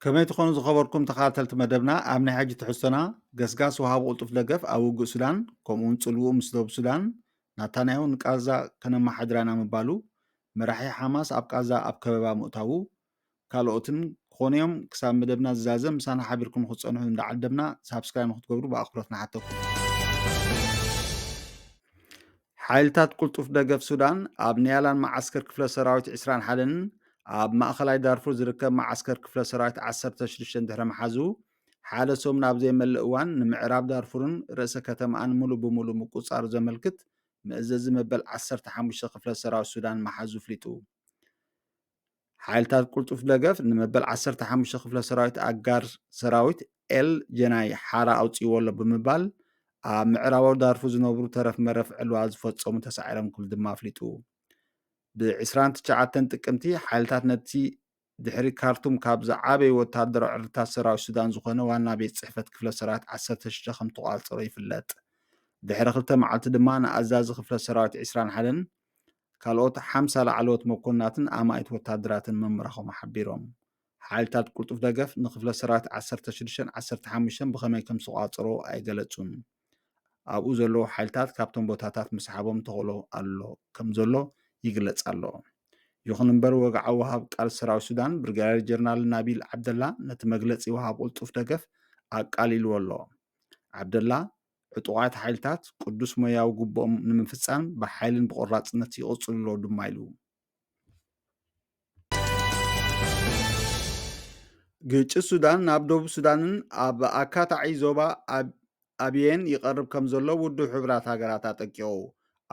ከመይ ትኾኑ ዝኸበርኩም ተኻተልቲ መደብና ኣብ ናይ ሕጂ ትሕዝቶና ገስጋስ ውሃቢ ቕልጡፍ ደገፍ ኣብ ውግእ ሱዳን ከምኡ ውን ጽልውኡ ምስ ዶብ ሱዳን ናታንያሁ ንቃዛ ከነመሓድራና ምባሉ መራሒ ሓማስ ኣብ ቃዛ ኣብ ከበባ ምእታዉ ካልኦትን ክኾኑ እዮም። ክሳብ መደብና ዝዛዘም ምሳና ሓቢርኩም ንክትጸንሑ እንዳዓደምና ሳብስክራይብ ንክትገብሩ ብኣኽብሮት ንሓተኩም። ሓይልታት ቁልጡፍ ደገፍ ሱዳን ኣብ ንያላን መዓስከር ክፍለ ሰራዊት 21ን ኣብ ማእኸላይ ዳርፉር ዝርከብ መዓስከር ክፍለ ሰራዊት 16 ድሕሪ ምሓዙ ሓደ ሰሙን ኣብ ዘይመልእ እዋን ንምዕራብ ዳርፉርን ርእሰ ከተማኣን ሙሉ ብምሉ ምቁፅፃሩ ዘመልክት መእዘዚ መበል 15 ክፍለ ሰራዊት ሱዳን ምሓዙ ፍሊጡ። ሓይልታት ቅልጡፍ ደገፍ ንመበል ዓሰርተ ሓሙሽተ ክፍለ ሰራዊት ኣጋር ሰራዊት ኤል ጀናይ ሓራ ኣውፅእዎ ኣሎ ብምባል ኣብ ምዕራባዊ ዳርፉ ዝነብሩ ተረፍ መረፍ ዕልዋ ዝፈፀሙ ተሳዒሮም ክብል ድማ ኣፍሊጡ። ብዕስራን ትሽዓተን ጥቅምቲ ሓይልታት ነቲ ድሕሪ ካርቱም ካብ ዝዓበዩ ወተሃደራዊ ዕርድታት ሰራዊት ሱዳን ዝኾነ ዋና ቤት ጽሕፈት ክፍለ ሰራዊት ዓሰርተ ሽዱሽተ ከም ተቋፀሮ ይፍለጥ። ድሕሪ ክልተ መዓልቲ ድማ ንኣዛዚ ክፍለ ሰራዊት ዕስራን ሓደን ካልኦት ሓምሳ ላዕለዎት መኮንናትን ኣማኢት ወተሃደራትን ምምራኾም ሓቢሮም። ሓይልታት ቅልጡፍ ደገፍ ንክፍለ ሰራዊት ዓሰርተ ሽዱሽተን ዓሰርተ ሓሙሽተን ብኸመይ ከም ዝተቖጻጸርዎ ኣይገለጹን። ኣብኡ ዘለዉ ሓይልታት ካብቶም ቦታታት ምስሓቦም ተኽእሎ ኣሎ ከም ዘሎ ይግለጽ ኣሎ። ይኹን እምበር ወግዓዊ ወሃብ ቃል ሰራዊት ሱዳን ብርጋዴር ጀነራል ናቢል ዓብደላ ነቲ መግለጺ ወሃብ ቅልጡፍ ደገፍ ኣቃሊልዎ ኣሎ። ዓብደላ ዕጡቓት ሓይልታት ቅዱስ ሞያዊ ግቡኦም ንምፍፃም ብሓይልን ብቆራፅነት ይቕፅሉ ኣለዉ ድማ ኢሉ። ግጭት ሱዳን ናብ ደቡብ ሱዳንን ኣብ ኣካታዒ ዞባ ኣቢየን ይቐርብ ከም ዘሎ ውድብ ሕቡራት ሃገራት ኣጠንቂቑ።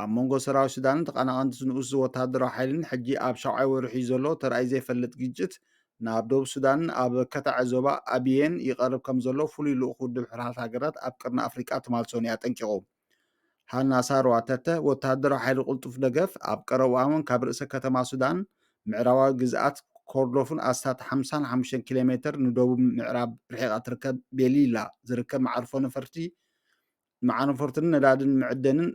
ኣብ መንጎ ሰራዊት ሱዳንን ተቐናቐንቲ'ዚ ንኡስ'ዚ ወተሃደራዊ ሓይሊን ሕጂ ኣብ ሻብዓይ ወርሒ'ዩ ዘሎ ተራእዩ ዘይፈልጥ ግጭት ናብ ደቡብ ሱዳንን ኣብ ከታዐ ዞባ ኣብየን ይቐርብ ከምዘሎ ፍሉይ ልኡኽ ውድብ ሕርሓት ሃገራት ኣብ ቀርኒ ኣፍሪቃ ትማል ሰኑይ ኣጠንቂቑ። ሃና ሳርዋ ተተ ወተሃደራዊ ሓይሊ ቅልጡፍ ደገፍ ኣብ ቀረብኣውን ካብ ርእሰ ከተማ ሱዳን ምዕራባዊ ግዝኣት ኮርዶፍን ኣስታት ሓምሳን ሓሙሽተን ኪሎ ሜተር ንደቡብ ምዕራብ ርሒቓ ትርከብ ቤሊላ ዝርከብ መዓርፎ ነፈርቲ ንማዕረፎርትን ነዳድን መዕደንን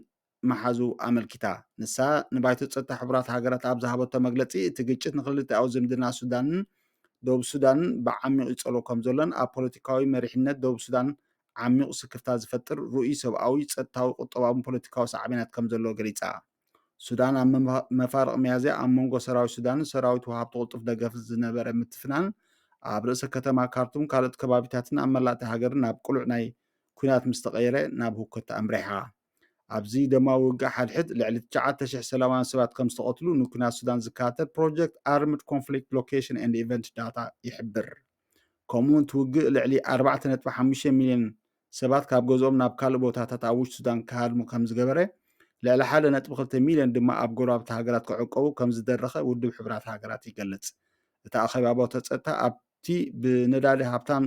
ምሓዙ ኣመልኪታ። ንሳ ንባይቶ ጸጥታ ሕቡራት ሃገራት ኣብ ዝሃበቶ መግለጺ፣ እቲ ግጭት ንኽልቲኣዊ ዝምድና ሱዳንን ደቡብ ሱዳንን ብዓሚቝ ይጸልዎ ከምዘሎን ኣብ ፖለቲካዊ መሪሕነት ደቡብ ሱዳን ዓሚቝ ስክፍታ ዝፈጥር ርኡይ ሰብኣዊ፣ ጸጥታዊ፣ ቁጠባውን ፖለቲካዊ ሳዕቤናት ከምዘለዎ ገሊጻ። ሱዳን ኣብ መፋርቕ ሚያዝያ ኣብ መንጎ ሰራዊት ሱዳንን ሰራዊት ወሃብቲ ቅልጡፍ ደገፍን ዝነበረ ምትፍናን ኣብ ርእሰ ከተማ ካርቱም ካልኦት ከባቢታትን ኣብ መላእቲ ሃገርን ናብ ቅሉዕ ናይ ኩናት ምስ ተቐየረ ናብ ህውከት ኣምሪሓ። ኣብዚ ደማዊ ውግእ ሓድሕድ ልዕሊ 9,000 ሰላማውያን ሰባት ከም ዝተቐትሉ ንኩናት ሱዳን ዝከታተል ፕሮጀክት ኣርምድ ኮንፍሊክት ሎኬሽን ኤንድ ኢቨንት ዳታ ይሕብር። ከምኡ'ውን እቲ ውግእ ልዕሊ ኣርባዕተ ነጥቢ ሓሙሽተ ሚልዮን ሰባት ካብ ገዝኦም ናብ ካልእ ቦታታት ኣብ ውሽጢ ሱዳን ክሃድሙ ከም ዝገበረ፣ ልዕሊ ሓደ ነጥቢ ክልተ ሚልዮን ድማ ኣብ ጎረባብቲ ሃገራት ክዕቆቡ ከም ዝደረኸ ውድብ ሕቡራት ሃገራት ይገልጽ። እቲ ኣኼባ ባቶ ጸጥታ ኣብቲ ብነዳዲ ሃብታም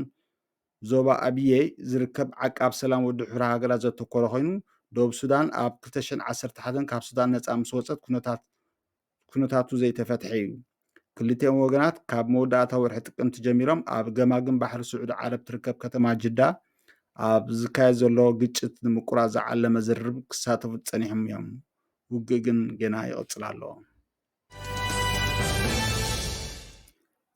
ዞባ ኣብየይ ዝርከብ ዓቃብ ሰላም ውድብ ሕቡራት ሃገራት ዘተኮረ ኮይኑ፣ ደቡብ ሱዳን ኣብ ክልተ ሽሕን ዓሰርተ ሓደን ካብ ሱዳን ነጻ ምስ ወጸት ኩነታት ኩነታቱ ዘይተፈትሐ እዩ። ክልቲኦም ወገናት ካብ መወዳእታ ወርሒ ጥቅምቲ ጀሚሮም ኣብ ገማግም ባሕሪ ስዑዲ ዓረብ ትርከብ ከተማ ጅዳ ኣብ ዝካየድ ዘሎ ግጭት ንምቁራፅ ዝዓለመ ዝርርብ ክሳተፉ ፀኒሖም እዮም። ውግእ ግን ገና ይቕፅል ኣሎ።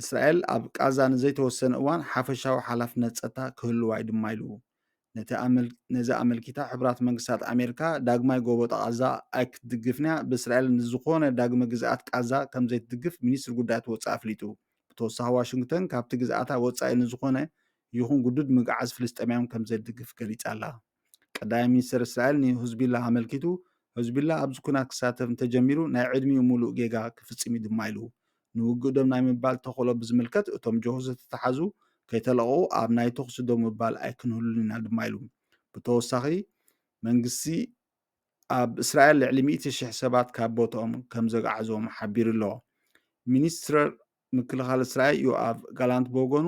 እስራኤል ኣብ ቃዛ ንዘይተወሰነ እዋን ሓፈሻዊ ሓላፍነት ጸጥታ ክህልዋ'ዩ ድማ ኢሉ። ነዚ ኣመልኪታ ሕቡራት መንግስታት ኣሜሪካ ዳግማይ ጎቦጣ ቓዛ ኣይክትድግፍን'ያ፣ ብእስራኤል ንዝኾነ ዳግመ ግዝኣት ቃዛ ከምዘይትድግፍ ሚኒስትሪ ጉዳያት ወጻኢ ኣፍሊጡ። ብተወሳኺ ዋሽንግተን ካብቲ ግዝኣታ ወጻኢ ንዝኾነ ይኹን ግዱድ ምግዓዝ ፍልስጤማውያን ከምዘይትድግፍ ገሊጻ'ላ። ቀዳማይ ሚኒስተር እስራኤል ንህዝቡላህ ኣመልኪቱ፣ ህዝቡላህ ኣብዚ ኵናት ክሳተፍ እንተጀሚሩ ናይ ዕድሚኡ ምሉእ ጌጋ ክፍጽም'ዩ ድማ ኢሉ። ንውግእ ደው ናይ ምባል ተኽእሎ ብዝምልከት እቶም ጀሆ ዝተታሕዙ ከይተለቐቑ ኣብ ናይ ተዅሲ ደው ምባል ኣይክንህሉን ኢና ድማ ኢሉ። ብተወሳኺ መንግስቲ ኣብ እስራኤል ልዕሊ ሚእቲ ሽሕ ሰባት ካብ ቦትኦም ከም ዘግዓዞም ሓቢሩ ኣሎ። ሚኒስትር ምክልኻል እስራኤል ዮኣቭ ጋላንት ብወገኑ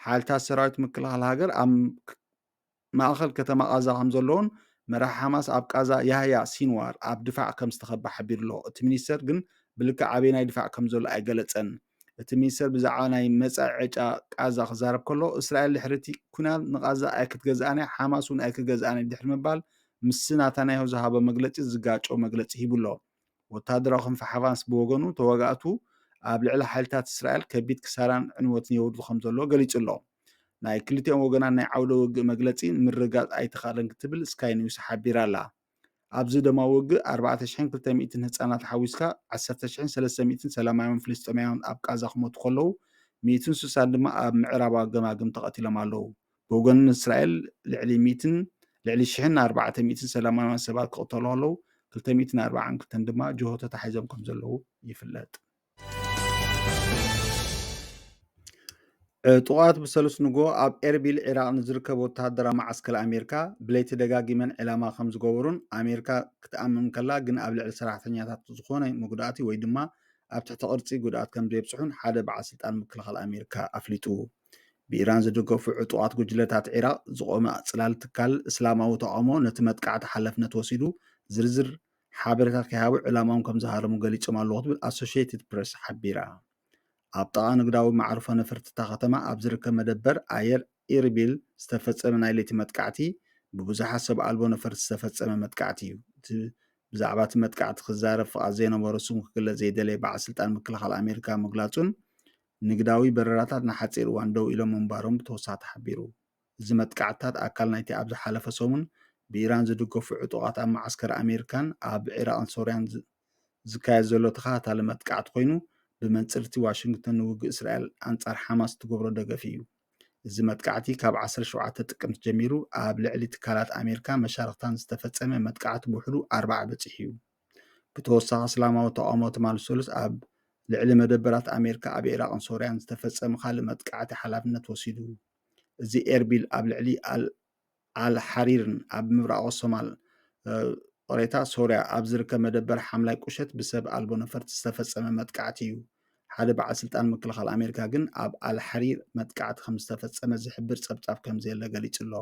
ሓይልታት ሰራዊት ምክልኻል ሃገር ኣብ ማእከል ከተማ ቓዛ ከምዘሎን መራሒ ሓማስ ኣብ ቓዛ ያህያ ሲንዋር ኣብ ድፋዕ ከምዝተኸበ ሓቢሩ'ሎ። እቲ ሚኒስተር ግን ብልክዕ ኣበየናይ ድፋዕ ከምዘሎ ኣይገለጸን። እቲ ሚኒስተር ብዛዕባ ናይ መጻኢ ዕጫ ቓዛ ክዛረብ ከሎ፣ እስራኤል ድሕሪ'ቲ ኲናት ንቓዛ ኣይክትገዝኣን'ያ፣ ሓማስ'ውን ኣይክገዝኣን'ዩ ድሕሪ ምባል ምስቲ ናታንያሁ ዝሃቦ መግለጺ ዝጋጮ መግለጺ ሂቡ'ሎ። ወተሃደራዊ ክንፊ ሓማስ ብወገኑ፣ ተዋጋእቱ ኣብ ልዕሊ ሓይልታት እስራኤል ከቢድ ክሳራን ዕንወትን የውርዱ ከምዘለዉ ገሊጹ'ሎ። ናይ ክልቲኦም ወገናት ናይ ዓውደ ውግእ መግለጺ ንምርግጋጽ ኣይተኻእለን ክትብል ስካይ ኒውስ ሓቢራ'ላ። ኣብዚ ደማዊ ውግእ ኣርባዕተ ሽሕን ክልተ ሚእትን ህጻናት ሓዊስካ ዓሰርተ ሽሕን ሰለስተ ሚእትን ሰላማውያን ፍልስጤማውያን ኣብ ቃዛ ክሞቱ ከለዉ ሚእትን ስሳን ድማ ኣብ ምዕራባዊ ገማግም ተቐቲሎም ኣለዉ። ብወገን እስራኤል ልዕሊ ሚእትን ልዕሊ ሽሕን ኣርባዕተ ሚእትን ሰላማውያን ሰባት ክቕተሉ ከለዉ ክልተ ሚእትን ኣርባዓን ክልተን ድማ ጅሆ ተታሒዞም ከም ዘለዉ ይፍለጥ። ዕጡቓት ብሰሉስ ንጎ ኣብ ኤርቢል ዒራቕ ንዝርከብ ወተሃደራዊ መዓስከር ኣሜሪካ ብለይቲ ደጋጊመን ዒላማ ከም ዝገበሩን ኣሜሪካ ክትኣምን ከላ ግን ኣብ ልዕሊ ሰራሕተኛታት ዝኾነ መጉዳእቲ ወይ ድማ ኣብ ትሕቲ ቅርጺ ጉድኣት ከም ዘየብጽሑን ሓደ በዓል ስልጣን ምክልኻል ኣሜሪካ ኣፍሊጡ። ብኢራን ዝድገፉ ዕጡቓት ጉጅለታት ዒራቕ ዝቖመ ጽላል ትካል እስላማዊ ተቓውሞ ነቲ መጥቃዕቲ ሓላፍነት ወሲዱ ዝርዝር ሓበሬታ ከይሃቡ ዕላማኦም ከም ዝሃረሙ ገሊጾም ኣለዉ ክትብል ኣሶሽትድ ፕረስ ሓቢራ። ኣብ ጥቓ ንግዳዊ መዓርፎ ነፈርቲ እታ ከተማ ኣብ ዝርከብ መደበር ኣየር ኢርቢል ዝተፈጸመ ናይ ለይቲ መጥቃዕቲ ብብዙሓት ሰብ ኣልቦ ነፈርቲ ዝተፈጸመ መጥቃዕቲ እዩ። እቲ ብዛዕባ እቲ መጥቃዕቲ ክዛረብ ፍቓድ ዘይነበሮ ስሙ ክግለጽ ዘይደለየ በዓል ስልጣን ምክልኻል ኣሜሪካ ምግላጹን ንግዳዊ በረራታት ንሓጺር እዋን ደው ኢሎም ምንባሮም ብተወሳኺ ተሓቢሩ። እዚ መጥቃዕትታት ኣካል ናይቲ ኣብ ዝሓለፈ ሰሙን ብኢራን ዝድገፉ ዕጡቓት ኣብ መዓስከር ኣሜሪካን ኣብ ዒራቕን ሶርያን ዝካየድ ዘሎ ተኸታታሊ መጥቃዕቲ ኮይኑ፣ ብመንጽር'ቲ ዋሽንግተን ንውግእ እስራኤል ኣንጻር ሓማስ እትገብሮ ደገፍ እዩ። እዚ መጥቃዕቲ ካብ ዓሰርተ ሸውዓተ ጥቅምቲ ጀሚሩ ኣብ ልዕሊ ትካላት ኣሜሪካን መሻርኽታን ዝተፈጸመ መጥቃዕቲ ብውሕዱ ኣርባዓ በጺሑ'ዩ። ብተወሳኺ እስላማዊ ተቓውሞ ትማል ሰሉስ ኣብ ልዕሊ መደበራት ኣሜሪካ ኣብ ዒራቕን ሶርያን ዝተፈጸመ ካልእ መጥቃዕቲ ሓላፍነት ወሲዱ። እዚ ኤርቢል ኣብ ልዕሊ ኣል ኣልሓሪርን ኣብ ምብራቓዊ ሶማል ቕሬታ ሶርያ ኣብ ዝርከብ መደበር ሓምላይ ቁሸት ብሰብ ኣልቦ ነፈርቲ ዝተፈጸመ መጥቃዕቲ እዩ። ሓደ በዓል ስልጣን ምክልኻል ኣሜሪካ ግን ኣብ ኣልሓሪር መጥቃዕቲ ከም ዝተፈጸመ ዝሕብር ጸብጻብ ከም ዘየለ ገሊጹ ኣሎ።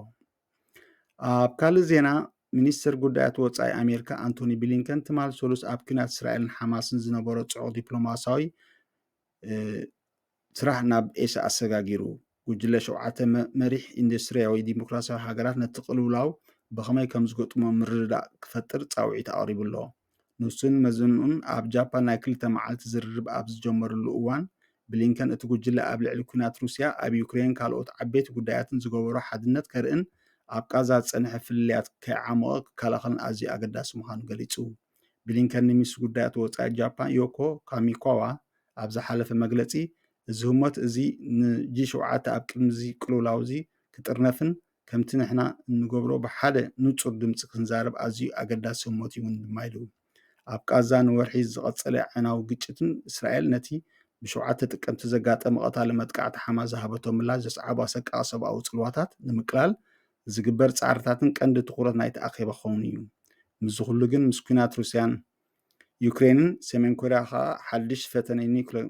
ኣብ ካልእ ዜና ሚኒስትር ጉዳያት ወፃኢ ኣሜሪካ ኣንቶኒ ብሊንከን ትማል ሰሉስ ኣብ ኩናት እስራኤልን ሓማስን ዝነበሮ ፅዑቕ ዲፕሎማሲያዊ ስራሕ ናብ ኤስ ኣሰጋጊሩ ጉጅለ ሸውዓተ መሪሕ ኢንዱስትሪያዊ ዲሞክራሲያዊ ሃገራት ነቲ ቅልውላው ብኸመይ ከም ዝገጥሞ ምርድዳእ ክፈጥር ፃውዒት ኣቕሪቡ ኣሎ ንሱን መዘንኡን ኣብ ጃፓን ናይ ክልተ መዓልቲ ዝርርብ ኣብ ዝጀመርሉ እዋን፣ ብሊንከን እቲ ጉጅለ ኣብ ልዕሊ ኲናት ሩስያ ኣብ ዩክሬንን ካልኦት ዓበይቲ ጉዳያትን ዝገበሮ ሓድነት ከርእን ኣብ ቃዛ ዝጸንሐ ፍልልያት ከይዓሞቐ ክከላኸልን ኣዝዩ ኣገዳሲ ምዃኑ ገሊጹ። ብሊንከን ንሚኒስትሪ ጉዳያት ወጻኢ ጃፓን ዮኮ ካሚካዋ ኣብ ዝሓለፈ መግለጺ እዚ ህሞት እዚ ንጂ ሸውዓተ ኣብ ቅድሚ እዚ ቅልውላው እዚ ክጥርነፍን ከምቲ ንሕና እንገብሮ ብሓደ ንጹር ድምጺ ክንዛረብ ኣዝዩ ኣገዳሲ ህሞት እውን ድማ ኢሉ። ኣብ ቃዛ ንወርሒ ዝቐጸለ ኣዕናዊ ግጭትን እስራኤል ነቲ ብሸውዓተ ጥቅምቲ ዘጋጠመ ቀታሊ መጥቃዕቲ ሓማስ ዝሃበቶ ምላሽ ዘስዓቦ ኣሰቃቒ ሰብኣዊ ጽልዋታት ንምቅላል ዝግበር ጻዕርታትን ቀንዲ ትኹረት ናይቲ ኣኼባ ክኸውን እዩ። ምስዚ ኩሉ ግን ምስ ኲናት ሩስያን ዩክሬንን ሰሜን ኮርያ ከኣ ሓድሽ ፈተነ ኒዩክሌር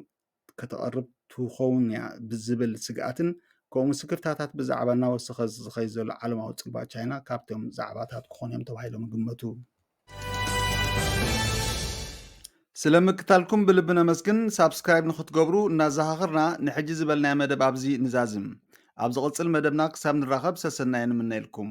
ከተቕርብ ትኸውን እያ ብዝብል ስግኣትን ከምኡ ምስክርታታት ብዛዕባ እናወሰኸ ዝኸይ ዘሎ ዓለማዊ ፅልዋ ቻይና ካብቶም ዛዕባታት ክኾኑ እዮም ተባሂሎም ይግመቱ። ስለ ምክታልኩም ብልቢ ነመስግን ሳብስክራይብ ንክትገብሩ እናዘኻኽርና ንሕጂ ዝበልናዮ መደብ ኣብዚ ንዛዝም ኣብ ዝቕጽል መደብና ክሳብ ንራኸብ ሰሰናየ ንምነየልኩም